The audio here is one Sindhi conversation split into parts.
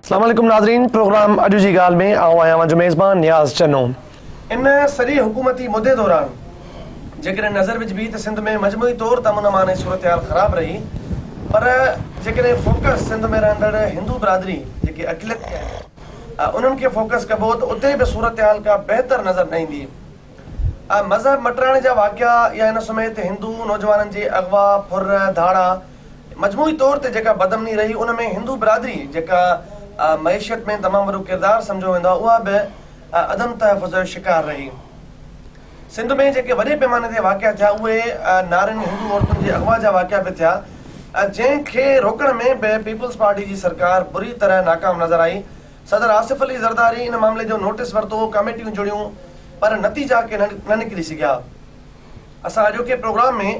اسلام عليڪم ناظرين پروگرام اڄ جي ڳالهه ۾ آئون آهيان اوهان جو ميزبان نياز چنو ان سڄي حڪومتي مدي دوران جيڪڏهن نظر وجهبي ته سنڌ ۾ مجموعي طور ته امن امان ۽ صورتحال خراب رهي پر جيڪڏهن فوڪس سنڌ ۾ رهندڙ هندو برادري جيڪي اقليت ۾ آهن انهن کي فوڪس ڪبو ته اتي به صورتحال ڪا بهتر نظر نه ايندي ۽ مذهب مٽرائڻ جا واقعا يا ان سميت هندو نوجوانن جي اغوا ڦر ڌاڙا مجموعي طور تي جيڪا بدامني رهي ان ۾ هندو برادري جيڪا معيشت ۾ تمام وڏو ڪردار سمجهيو ويندو آهي اها به عدم تحفظ جو شڪار رهي. سنڌ ۾ جيڪي وڏي پيماني تي واقعا ٿيا اهي نارين هندو عورتن جي اغوا جا واقعا به ٿيا جنهن کي روڪڻ ۾ به پيپلز پارٽي جي سرڪار بري طرح ناڪام نظر آئي صدر آصف علي زرداري ان معاملي جو نوٽس ورتو ڪاميٽيون جڙيون پر نتيجا ڪي نه نڪري سگهيا. اسان اڄوڪي پروگرام ۾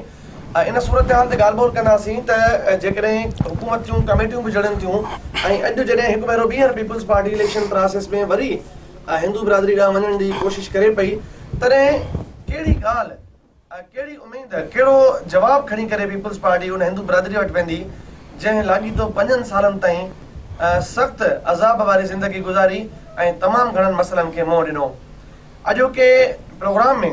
ان صورتحال تي ڳالهه ٻولهه ڪنداسين ته جيڪڏهن حڪومت جون ڪميٽيون به جڙن ٿيون ۽ اڄ جڏهن هڪ ڀيرو ٻيهر پيپلز پارٽي اليڪشن پراسيس ۾ وري هندو برادري ڏانهن وڃڻ جي ڪوشش ڪري پئي تڏهن ڪهڙي ڳالهه ڪهڙي اميد ڪهڙو جواب کڻي ڪري پيپلز پارٽي ان هندو برادري وٽ ويندي جنهن لاڳيتو پنجن سالن تائين سخت عذاب واري زندگي گذاري ۽ تمام گهڻن مسئلن کي منهن ڏنو. اڄوڪي پروگرام ۾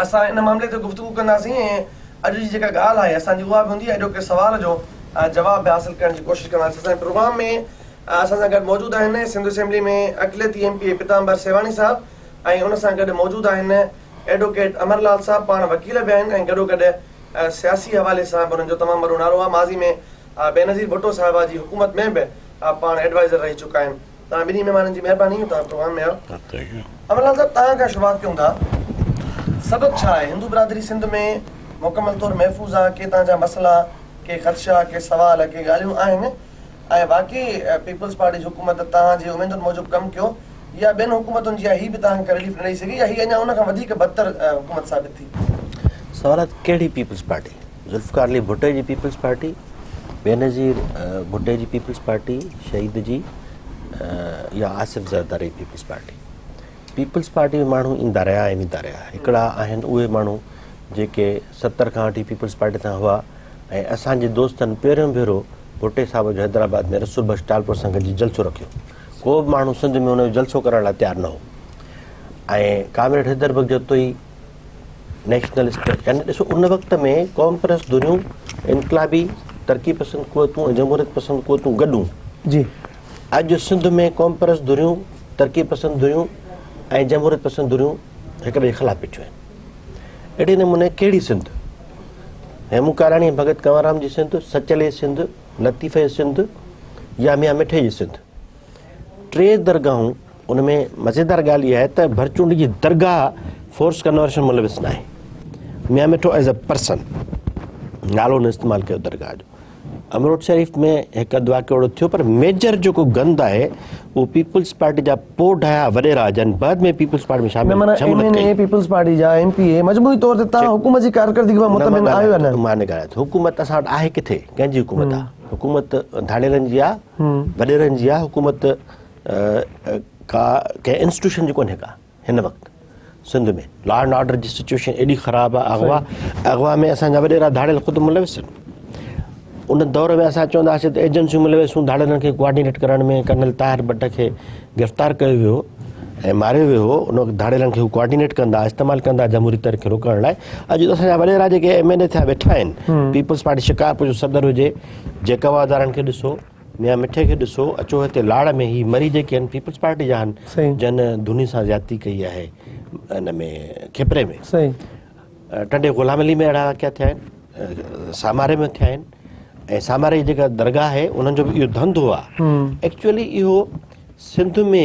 اسان ان معاملي تي گفتگو ڪنداسين ۽ اڄ جي جيڪا ڳالهه آهي اسان جي اها به هوندي اڄوڪي سوال جو جواب به حاصل ڪرڻ جي ڪوشش ڪنداسين اسان جي پروگرام ۾ اسان سان گڏ موجود آهن سنڌ اسيمبلي ۾ اقليتي M P A Pitamber Sewhani صاحب ۽ ان سان گڏ موجود آهن ايڊوڪيٽ امر لال صاحب پاڻ وڪيل به آهن ۽ گڏو گڏ سياسي حوالي سان به انهن جو تمام وڏو نالو آهي ماضي ۾ بينظير ڀٽو صاحبه جي حڪومت ۾ به پاڻ ايڊوائزر رهي چڪا آهن توهان ٻنهي مهمانن جي مهرباني توهان پروگرام ۾ آيو امن لال صاحب توهان کان شروعات ڪيون ٿا سبب ڇا آهي هندو برادري سنڌ ۾ مڪمل طور محفوظ آهي ڪي توهان جا مسئلا ڪي خدشا ڪي سوال ڪي ڳالهيون آهن ۽ واقعي پيپلز پارٽي جي حڪومت توهان جي اميدن موجب ڪم ڪيو يا ٻين حڪومتن جيان هي به توهان کي رليف نه ڏئي سگهي يا هي اڃا ان کان وڌيڪ بدتر حڪومت ثابت ٿي. سوال آهي ته ڪهڙي پيپلز پارٽي؟ ذوالفقار علي ڀٽي جي پيپلز پارٽي بينظير ڀٽي جي پيپلز پارٽي شهيد جي يا Asif Zardari Peoples Party Peoples Party ۾ ماڻهو ايندا رهيا ۽ ويندا رهيا هڪڙا آهن اهي ماڻهو جيڪي ستر کان وٺي پيپلز پارٽي سان هئا ۽ اسانجي دوستن پهريون ڀيرو ڀٽي صاحب جو حيدرآباد ۾ رسول بخش ٽالپور سان گڏجي جلسو رکيو ڪو به ماڻهو سنڌ ۾ ان جو جلسو ڪرڻ لاء تيار نه هو ۽ ڪامريڊ حيدر بخش جتوئي نيشنلسٽ يعني ڏسو ان وقت ۾ قوم پرست دنيون انقلابي ترقي پسند قوتون ۽ جمهوريت پسند قوتون گڏون جي اڄ سنڌ ۾ قوم پرست دنيون ترقي پسند دنيون ۽ جمهوريت پسند دنيون هڪ ٻئي خلاف بيٺيون آهن اهڙي نموني ڪهڙي سنڌ هيمون ڪاراڻي ڀڳت ڪنورام جي سنڌ سچلي سنڌ لطيفي سنڌ يا ميان مٺي جي سنڌ ٽي درگاهون ان ۾ مزيدار ڳالهه اها آهي ته ڀرچونڊ جي درگاهه فورس ڪنورشن ملوث نه آهي Mian Mithu as a person نالو نه استعمال ڪيو درگاهه جو امروٽ شريف ۾ هڪ اڌ واقعو اهڙو ٿيو پر ميجر جيڪو گند آهي اهو پيپلز پارٽي جا پوڊايا وڏيرا جن بعد ۾ پيپلز پارٽي ۾ شامل نه M N A peoples party جا ايم پي اي مجموعي طور تي تان حڪومت جي ڪارڪردگي ۾ مطمئن آهيو نه مان نه ڳالهايان ٿو حڪومت اسان وٽ آهي ڪٿي ڪنهن جي حڪومت آهي حڪومت ڌاڙيلن جي آهي وڏيرن جي اها حڪومت ڪا ڪنهن انسٽيوشن جي ڪونهي ڪا هن وقت سنڌ ۾ لا اينڊ آرڊر جي سچويشن ايڏي خراب آ اغوا اغوا ۾ اسان جا وڏيرا ڌاڙيل خود ملوث آهن ان دور ۾ اسان چونداسين ته ايجنسيون ملوث هون ڌاڙيلن کي ڪوآرڊينيٽ ڪرڻ ۾ ڪرنل طاهر بٽ کي گرفتار ڪيو ويو ۽ ماريو ويو هو ان وقت ڌاڙيلن کي ڪوآرڊينيٽ کندا استعمال ڪندا جمهوري تر کي روڪڻ لاء اڄ اسان جا وڏيرا جيڪي ايم اين اي ٿيا ويٺا آهن پيپلز پارٽي شڪارپور جو صدر هجي جيڪب آزارن کي ڏسو، ميان مٺي کي ڏسو، اچو هتي لاڙ ۾ هي مري جيڪي آهن پيپلز پارٽي جا آهن جن ڌوني سان زيادتي ڪئي آهي ان ۾ کپري ۾ ٽنڊي غلام علي ۾ اهڙا واقعا ٿيا آهن ساماري ۾ ٿيا آهن ۽ ساماري جي جيڪا درگاهه آهي انهن جو به اهو ڌنڌو آهي ايڪچولي اهو سنڌ ۾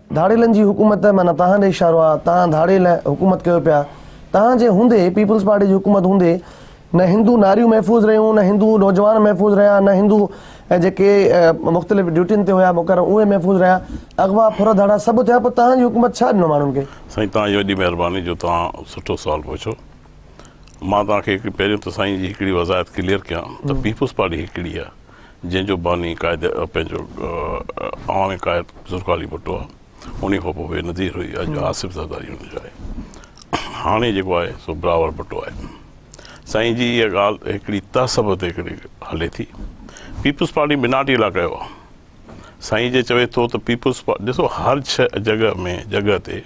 ڌاڙيلن جي حڪومت معنيٰ توهان ڏي اشارو آ توهان ڌاڙيل حڪومت ڪيو پيا توهان جي هوندي پيپلز پارٽي جي حڪومت هوندي نه هندو ناريون محفوظ رهيون نه هندو نوجوان محفوظ رهيا نه هندو جيڪي مختلف ڊيوٽين تي هيا مقرر اهي محفوظ رهيا اغوا ڦر ڌاڙا سڀ ٿيا پوء توهان جي حڪومت ڇا ڏنو ماڻهن کي. سائين توهان جي وڏي مهرباني جو توهان سٺو سوال پڇيو مان توهان کي هڪڙي پهريون ته سائين جي هڪڙي وضاحت ڪليئر ڪيان ته پيپلز پارٽي هڪڙي آ. جنهن جو باني قائد پنهنجو عوامي قائد ذوالفقار علي ڀٽو آهي انهي کان پوء بي نظير هئي اڄ آصف زرداري هن جو آهي هاڻي جيڪو آهي سو بلاول ڀٽو آهي سائين جي اها ڳالهه هڪڙي تهسب تي هڪڙي هلي ٿي پيپلز پارٽي بناٽي لاء ڪيو آهي سائين جي چوي ٿو ته پيپلز پارٽي ڏسو هر جڳهه ۾ جڳهه تي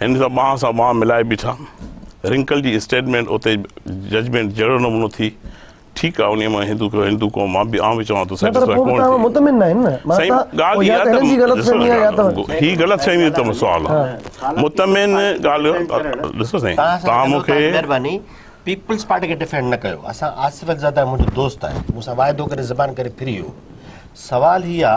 هن سان ٻانهن سان ٻانهن ملائي بيٺا. رنڪل جي اسٽيٽمينٽ اتي ججمينٽ جهڙو نمونو ٿي. ٺيڪ آ انهي مان هندو ڪيو هندو قوم مان به آئون به چوان ٿو سيٽسفائي ڪونه ٿي. مطمئن ناهن نه سائين ڳالهه اها ته هي غلط فهمي آ مطمئن ڳالهه ڏسو سائين تهان مون کي مهرباني پيپلز پارٽي کي ڊفينڊ نه ڪيو اسان آصف علزاده منهنجو دوست آهي مون سان واعدو ڪري زبان ڪري ڦري ويو سوال هي آ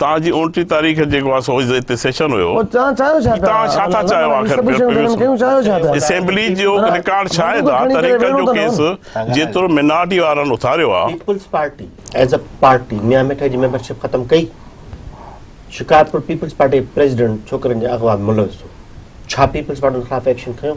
توهان جي اوڻٽيهين تاريخ جيڪو آهي سو هتي سيشن هيو ۽ توهان ڇا ٿا چاهيو آخر اسيمبلي جو رڪارڊ شاهد آهي طريقن جو ڪيس جيترو منارٽي وارن اٿاريو آهي Peoples Party as a party Mian مٺي جي ميمبرشپ ختم ڪئي شڪارپور پيپلز پارٽي پريزيڊنٽ ڇوڪرين جي اغوا ۾ ملوث هو ڇا پيپلز پارٽي ان خلاف ايڪشن کنيو؟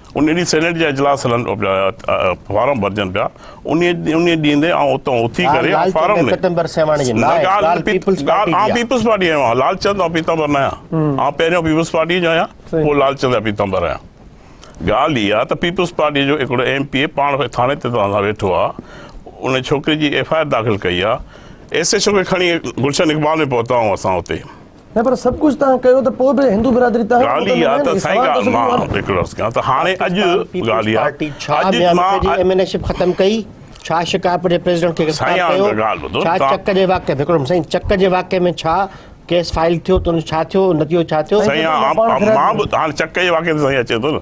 انهيء ڏينهن سينيٽ جا اجلاس هلن فارم ڀرجن پيا انهيء ڏينهن تي آئون اتان اٿي ڪري آئون فارم نه آئون پيپلز پارٽي جي آهيان لال چند آئون پيتامبر نه آهيان آئون پهريون پيپلز پارٽي جو آهيان پوء لال چند جا پيتامبر آهيان ڳالهه اها ته پيپلز پارٽي جو هڪڙو ايم پي اي پاڻ ٿاڻي تي توهان سان ويٺو آهي انهيء ڇوڪري جي ايف آء آر داخل ڪئي آهي ايس ايڇ او کي کڻي گلشن اقبال ۾ پهتا آهيون اسان اتي نه پر سڀ ڪجهه توهان ڪيو ته پوء به هندو برادري توهان کان ڳالهه اها ته سائين ڳالهه مان هڪ لفظ ڪيان ته هاڻي اڄ ڳالهه اها ته ڇا ميان ملڪي جي ايم اين اي شپ ختم ڪئي ڇا شڪارپور جي پريزيڊنٽ کي گرفتار ڪيو ڇا چڪ جي واقعي ۾ هڪڙو منٽ سائين چڪ جي واقعي ۾ ڇا ڪيس فائل ٿيو ته ان ڇا ٿيو نتيجو ڇا ٿيو سائين مان به هاڻي چڪ جي واقعي تي سائين اچي ٿو نه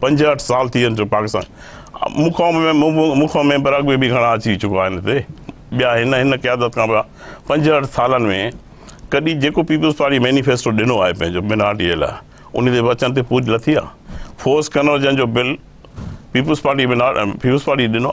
پنجهٺ سال ٿي ويا پاڪستان مون کان مون کان ميمبر اڳ ۾ به گهڻا اچي چڪا آهن هتي ٻيا هن هن قيادت کان ٻيا پنجهٺ سالن ۾ ڪڏهن جيڪو پيپلز پارٽي مينيفيسٽو ڏنو آهي پنهنجو مائنارٽي جي لاء ان تي وچن تي پوري لٿي آهي فورس ڪنورجن جو bill Peoples Party minor Peoples Party ڏنو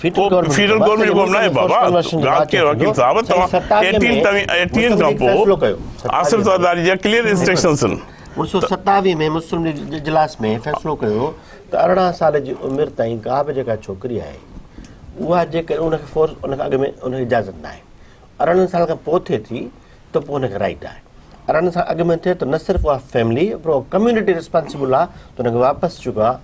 فيڊرل گورنمينٽ جو ڪم ناهي بابا ڳالهه ڪير وڪيل صاحب توهان ايٽين توهين ايٽين کان پوء آصف زرداري جا ڪليئر انسٽرڪشنز آهن انيس سو ستاوي ۾ مسلم ليگ جي اجلاس ۾ فيصلو ڪيو ته ارڙهن سال جي عمر تائين ڪا به جيڪا ڇوڪري آهي اها جيڪڏهن ان کي فورس ان کان اڳ ۾ ان کي اجازت ناهي ارڙهن سال کان پوء ٿئي ٿي ته پوء ان کي رائيٽ آهي پر ان سان اڳ ۾ ٿئي ته نه صرف اها فيملي پر اها ڪميونٽي ريسپانسبل آهي ته ان کي واپس جيڪو آهي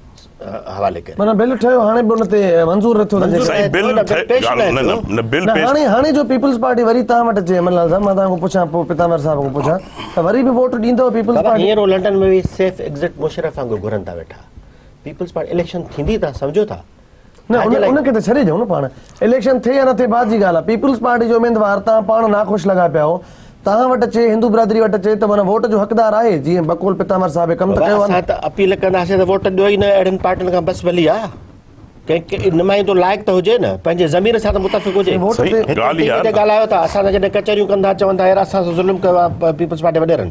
حوالي ڪري. معنيٰ بل ٺهيو هاڻي به ان تي منظور نه ٿيو ته جيڪو. سائين بل ٺهي نه هاڻي هاڻي جو پيپلز پارٽي وري تان وٽ اچي عمل لال صاحب مان تان کان پڇان پوء پتامر صاحب کان پڇان ته وري به ووٽ ڏيندو پيپلز پارٽي. هينئر هو لنڊن ۾ ويهي سيف ايگزٽ مشرف وانگر گهرن ٿا ويٺا پيپلز پارٽي اليڪشن ٿيندي تان سمجهو ٿا. نه ان کي ته ڇڏي ڏيو نه پاڻ اليڪشن ٿئي يا نه ٿئي بعد جي ڳالهه آهي پيپلز پارٽي جو اميدوار تان پاڻ ناخوش لڳا پيا هو تان وٽ اچي هندو برادري وٽ اچي ته معنيٰ ووٽ جو حقدار آهي جيئن بقول پتامر صاحب ڪم ته ڪيو آهي نه ته اپيل ڪنداسين ته ووٽ ڏيو ئي نه اهڙن پارٽين کان بس ڀلي آ ڪنهن نمائندو لائق ته هجي نه پنهنجي ضمير سان ته متفق هجي ڳالهه اها ڳالهه آيو ته اسان سان جڏهن ڪچهريون ڪندا چوندا يار اسان سان ظلم ڪيو آهي پيپلز پارٽي وڏيرن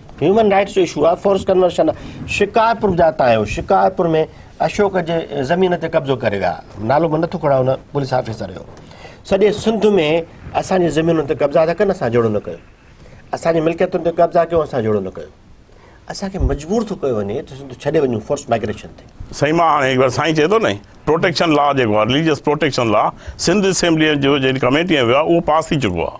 هيومن رائٽس جو اشو آهي فورس ڪنورشن آهي شڪارپور جا تان آهيو شڪارپور ۾ اشوڪ جي زمين تي قبضو ڪري ويا نالو به نٿو کڻان هن پوليس آفيسر جو سڄي سنڌ ۾ اسانجي زمينن تي قبضا ٿا ڪن اسان جوڙو نه ڪيو اسانجي ملڪيتن تي قبضا ڪيو اسان جوڙو نه ڪيو اسانکي مجبور ٿو ڪيو وڃي ته سنڌ ڇڏي وڃو فورس مائگريشن تي سائين مان هاڻي هڪ بار سائين چئي ٿو نه پروٽيڪشن لا جيڪو آهي religious protection law Sindh assembly جو جن ڪميٽي ۾ ويو آهي اهو پاس ٿي چڪو آهي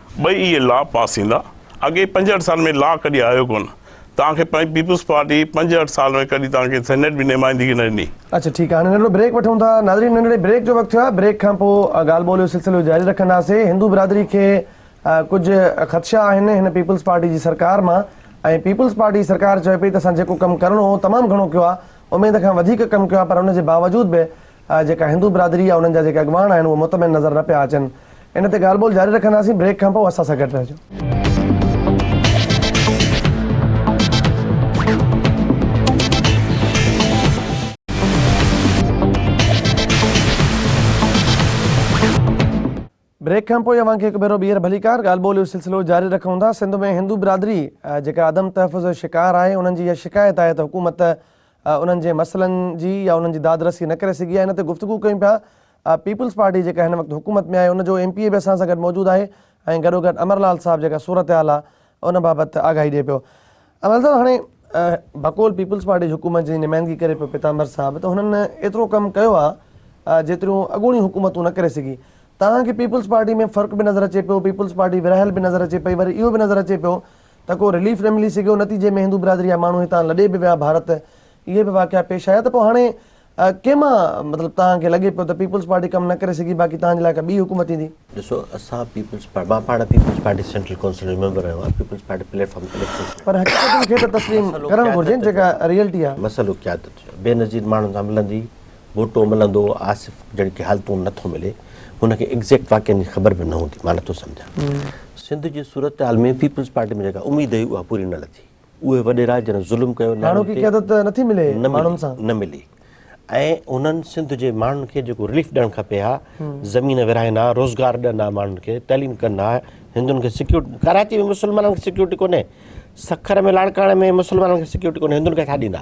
ٻئي اهي لا پاس ٿيندا. اڳئين پنجهٺ سالن ۾ لا ڪڏهن آيو ڪونه. توهان کي پيپلز پارٽي پنجهٺ سال ۾ ڪڏهن توهان کي سينيٽ ۾ نمائندگي نه ڏني. اڇا ٺيڪ آ هاڻي ننڍڙو بريڪ وٺون ٿا ناظرين ننڍڙي بريڪ جو وقت ٿيو آهي بريڪ کان پو ڳالهه ٻولهه جو سلسلو جاري رکنداسين هندو برادري کي ڪجهه خدشا آهن هن پيپلز پارٽي جي سرڪار مان ۽ پيپلز پارٽي سرڪار چوي پئي ته اسان جيڪو ڪم ڪرڻو هو تمام گهڻو ڪيو آ اميد کان وڌيڪ ڪم ڪيو آ پر ان جي باوجود به جيڪا هندو برادري يا انهن جا جيڪي اڳواڻ آهن اهي مطمئن نظر نه پيا اچن ان تي ڳالهه ٻولهه جاري رکنداسين بريڪ کان پوء اسان سان گڏ رهجو. بريڪ کان پوء اوهان کي هڪ ڀيرو ٻيهر ڀليڪار ڳالهه ٻولهه جو سلسلو جاري رکون ٿا. سنڌ ۾ هندو برادري جيڪا عدم تحفظ جو شڪار آهي انهن جي اها شڪايت آهي ته حڪومت انهن جي مسئلن جي يا انهن جي داد رسي نه ڪري سگهي آهي ان تي گفتگو ڪيون پيا پيپلز پارٽي جيڪا هن وقت حڪومت ۾ آهي ان جو ايم پي اي به اسان سان گڏ موجود آهي ۽ گڏوگڏ امرلال صاحب جيڪا صورتحال آهي ان بابت آگاهي ڏئي پيو. امل صاحب هاڻي بقول پيپلز پارٽي جي حڪومت جي نمائندگي ڪري پيو پيتامبر صاحب ته هنن ايترو ڪم ڪيو آ جيتريون اڳوڻيون حڪومتون نه ڪري سگهي توهان کي پيپلز پارٽي ۾ فرق به نظر اچي پيو پيپلز پارٽي ورهايل به نظر اچي پئي وري اهو به نظر اچي پيو ته ڪو رليف نه ملي سگهيو نتيجي ۾ هندو برادري جا ماڻهو هتان لڏي به ويا ڀارت اهي به واقعا پيش آيا ته پوء هاڻي ڪنهن مان مطلب توهان کي لڳي پيو ته پيپلز پارٽي ڪم نه ڪري سگهي باقي توهان جي لاء ڪا ٻي حڪومت ايندي؟ ڏسو اسان پيپلز پارٽي مان پاڻ پيپلز پارٽي سينٽرل ڪونسل جو ميمبر رهيو آهيان پيپلز پارٽي پليٽ فارم تي اليڪشنز لڙي. پر حقيقتن کي ته تسليم ڪرڻ گهرجين جيڪا ريئلٽي آهي. مسئلو قيادت جو آهي بينظير ماڻهن سان ملندي ڀوٽو ملندو آصف جهڙي ڪي حالتون نه ٿو ملي هن کي ايگزيڪٽ واقعن جي خبر به نه هوندي مان نه ٿو سمجهان سنڌ جي صورتحال ۾ پيپلز پارٽي ۾ جيڪا اميد هئي اها پوري نه لٿي. اهي وڏيرا جن ظلم ڪيو ناڻو کي قيادت نه ٿي ملي ماڻهن سان نه ملي ۽ انهن سنڌ جي ماڻهن کي جيڪو رليف ڏيڻ کپي ها زمين ورهائين ها روزگار ڏين ها ماڻهن کي تعليم ڪن ها هندن کي سيڪيورٽي ڪراچي ۾ مسلمانن کي سيڪيورٽي ڪونهي سکر ۾ لاڙڪاڻي ۾ مسلمانن کي سيڪيورٽي ڪونهي هندن کي ڇا ڏيندا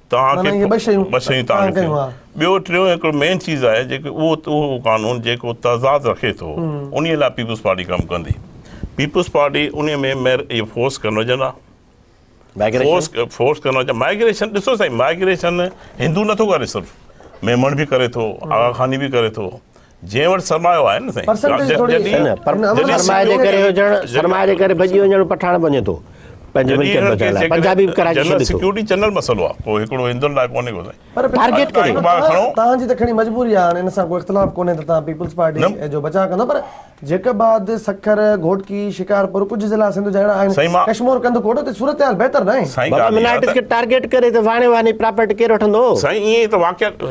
توهان کي ٻه شيون تانگ ٿيون ٻيو ٽيون هڪڙو مين چيز آهي جيڪو اهو اهو قانون جيڪو تضاد رکي ٿو انهي لاء پيپلز پارٽي ڪم ڪندي پيپلز پارٽي انهي ۾ مير اهي فورس ڪنورجن آ فورس فورس ڪنورجن مائگريشن ڏسو سائين مائگريشن هندو نٿو ڪري صرف ميمڻ به ڪري ٿو آغا خاني به ڪري ٿو جنهن وٽ سرمايو آهي نه سائين پرسنٽيج ٿوري سرمايي جي ڪري هجڻ سرمايي جي ڪري ڀڄي وڃڻ پٺاڻ بڻجي ٿو پنهنجي ملڪيت بچائڻ لاء پنجابي به ڪراچي ڇڏي ٿو سيڪيورٽي جنرل مسئلو آهي ڪو هڪڙو هندن لاء ڪونهي ڪو سائين پر ٽارگيٽ ڪري تان جي ته کڻي مجبوري آهي هاڻي ان سان ڪو اختلاف ڪونهي ته تان پيپلز پارٽي جو بچا ڪندا پر جيڪ آباد سکر گهوٽڪي شڪارپور ڪجهه ضلع سنڌ جا اهڙا آهن ڪشمور ڪنڌ ڪوٽ اتي صورتحال بهتر ناهي سائين ٽارگيٽ ڪري ته واڻي واني پراپرٽي ڪير وٺندو سائين ايئن ته واقعا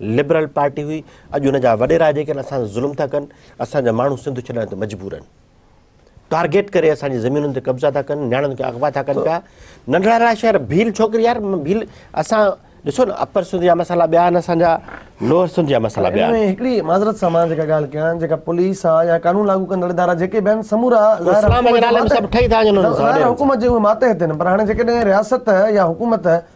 لبرل پارٽي هئي اڄ ان جا وڏيرا جيڪي آهن اسان تي ظلم ٿا ڪن اسان جا ماڻهو سنڌ ڇڏڻ تي مجبور آهن ٽارگيٽ ڪري اسان جي زمينن تي قبضا ٿا ڪن نياڻين کي اغوا ٿا ڪن پيا ننڍڙا ننڍڙا شهر ڀيل ڇوڪري يار ڀيل اسان ڏسو نه اپر سنڌ جا مسئلا ٻيا آهن اسان جا لوئر سنڌ جا مسئلا ٻيا آهن هڪڙي معذرت سان مان جيڪا ڳالهه ڪيان جيڪا پوليس آ يا قانون لاڳو ڪندڙ ادارا جيڪي به آهن سمورا اسلام جي نالي ۾ سڀ ٺهي ٿا وڃن حڪومت جي اهي ماتحت آهن پر هاڻي جيڪڏهن رياست يا حڪومت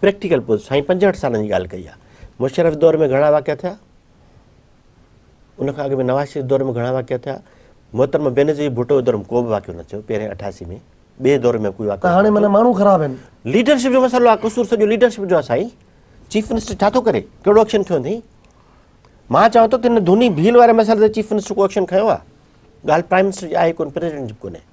پريڪٽيڪل پوز سائين پنجهٺ سالن جي ڳالهه ڪئي آهي مشرف دور ۾ گهڻا واقعا ٿيا ان کان اڳ ۾ نواز شريف دور ۾ گهڻا واقعا ٿيا محترم بينظير ڀٽو دور ۾ ڪو به واقعو نه ٿيو پهرين اٺاسي ۾ ٻئي دور ۾ ڪوئي واقعو هاڻي معنی ماڻهو خراب آهن ليڊرشپ جو مسئلو آهي قصور سڄو ليڊرشپ جو آهي سائين چيف منسٽر ڇا ٿو ڪري ڪهڙو ايڪشن کيو اٿئي مان چوان ٿو ته هن ڌوني ڀيل واري مسئلي تي چيف منسٽر ڪو ايڪشن کيو آهي ڳالهه پرائم منسٽر جي آهي ڪون پريزيڊنٽ جي به ڪونهي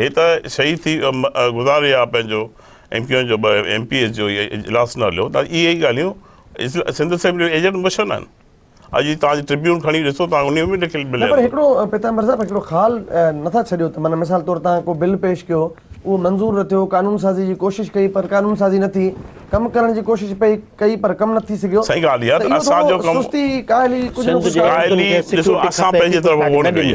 هي ته شهيد ٿي گذاري ويا پنهنجو ايم ڪيو اين جو ايم پي ايس جو اجلاس نه هليو ته اهي ئي ڳالهيون سنڌ اسيمبلي جو ايجنڊو مشن آهن اڄ جي توهان جي ٽربيون کڻي ڏسو توهان انهي ۾ لکيل ملي پر هڪڙو پيتامبر صاحب هڪڙو خال نٿا ڇڏيو ته من مثال طور توهان ڪو بل پيش ڪيو اهو منظور نه ٿيو قانون سازي جي ڪوشش ڪئي پر قانون سازي نه ٿي ڪم ڪرڻ جي ڪوشش پئي ڪئي پر ڪم نه ٿي سگهيو سهي ڳالهه اهي ته اسان جو ڪم سستي ڪاهلي ڪجهه نه ڪجهه ڪاهلي ڏسو اسان پنهنجي طرف ووٽ ڪئي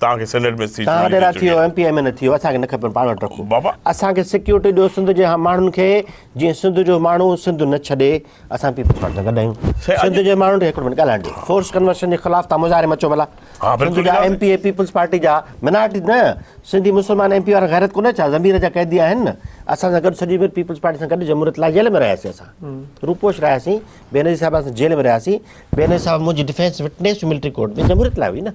توهان کي سينيٽ ۾ سيٽ ملي چڪي آهي. توهان ايم پي اي ۾ نه ٿيو اسان کي نه کپي پاڻ وٽ رکو بابا. اسان کي سيڪيورٽي ڏيو سنڌ جي ماڻهن کي جيئن سنڌ جو ماڻهو سنڌ نه ڇڏي اسان پيپلز پارٽي سان گڏ آهيون سائين، اڄ- سنڌ جي ماڻهن کي هڪڙو منٽ ڳالهائڻ ڏيو فورس ڪنورشن جي خلاف تان مظاهري ۾ اچو ڀلا ها، بلڪل سنڌ جا ڳالهائي. M P A peoples party جا منارٽي نه سنڌي مسلمان ايم پي وارا غيرت ڪونه ڇا ضمير جا قيدي آهن نه اسان سان گڏ سڄي عمر پيپلز پارٽي سان گڏ جمهوريت لاء جيل ۾ رهياسين اسان روپوش رهياسين بينظير صاحب سان جيل ۾ رهياسين بينظير صاحب منهنجي ڊيفينس وٽنس ملٽري ڪورٽ ۾ جمهوريت لاء هئي نه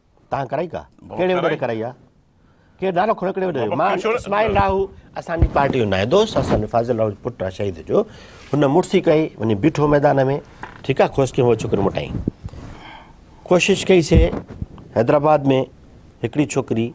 تان ڪرائي ڪا ڪهڙي وڏيري ڪرائي آ ڪير نالو کڻو ڪهڙي وڏيري مان اسماعيل لاهو اسان جي پارٽي جو نائين دوست اسان جي فاضل لاهو جو پٽ آ شهيد جو هن مڙسي ڪئي وڃي بيٺو ميدان ۾ ٺيڪ آ خوش ڪيو هو ڇوڪري مٽائين ڪوشش ڪئي سي حيدرآباد ۾ هڪڙي ڇوڪري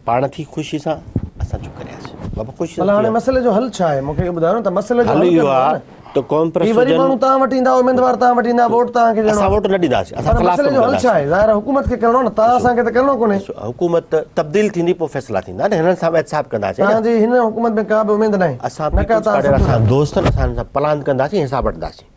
پاڻ ٿي خوشي سان اسان چپ ڪرياسين بابا خوش ٿي هاڻي مسئلي جو حل ڇا آهي مونکي اهو ٻڌايو نه ته مسئلي جو حل اهو آهي ته قوم پرست هي وري ماڻهو تان وٽ ايندا اميدوار تان وٽ ايندا ووٽ تان کي ڏيڻو اسان ووٽ نه ڏينداسين اسان خلاف مسئلي جو حل ڇا آهي ظاهر حڪومت کي ڪرڻو نه تان اسان کي ته ڪرڻو ڪونهي حڪومت تبديل ٿيندي پوء فيصلا ٿيندا نه هنن سان احتساب ڪنداسين تان جي هن حڪومت ۾ ڪا به اميد ناهي اسان پيپلز پارٽي اسان دوستن اسان سان پلاند ڪنداسين حساب وٺنداسين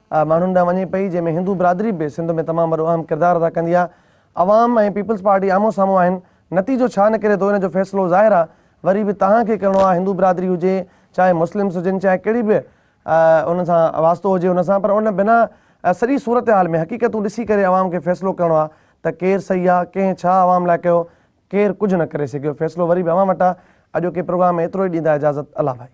ماڻهن ڏانهن وڃي پئي جنهن ۾ هندو برادري به سنڌ ۾ تمام وڏو اهم ڪردار ادا ڪندي آهي عوام ۽ پيپلز پارٽي آمهون سامهون آهن نتيجو ڇا نڪري ٿو ان جو فيصلو ظاهر آهي وري به توهان کي ڪرڻو آهي هندو برادري هجي چاهي مسلمز هجن چاهي ڪهڙي به ان سان واسطو هجي ان سان پر ان بنا سڄي صورتحال ۾ حقيقتون ڏسي ڪري عوام کي فيصلو ڪرڻو آهي ته ڪير صحيح آهي ڪنهن ڇا عوام لاء ڪيو ڪير ڪجهه نه ڪري سگهيو فيصلو وري به اوهان وٽ آهي اڄوڪي پروگرام ۾ ايترو ئي ڏيندا اجازت الله ڀائي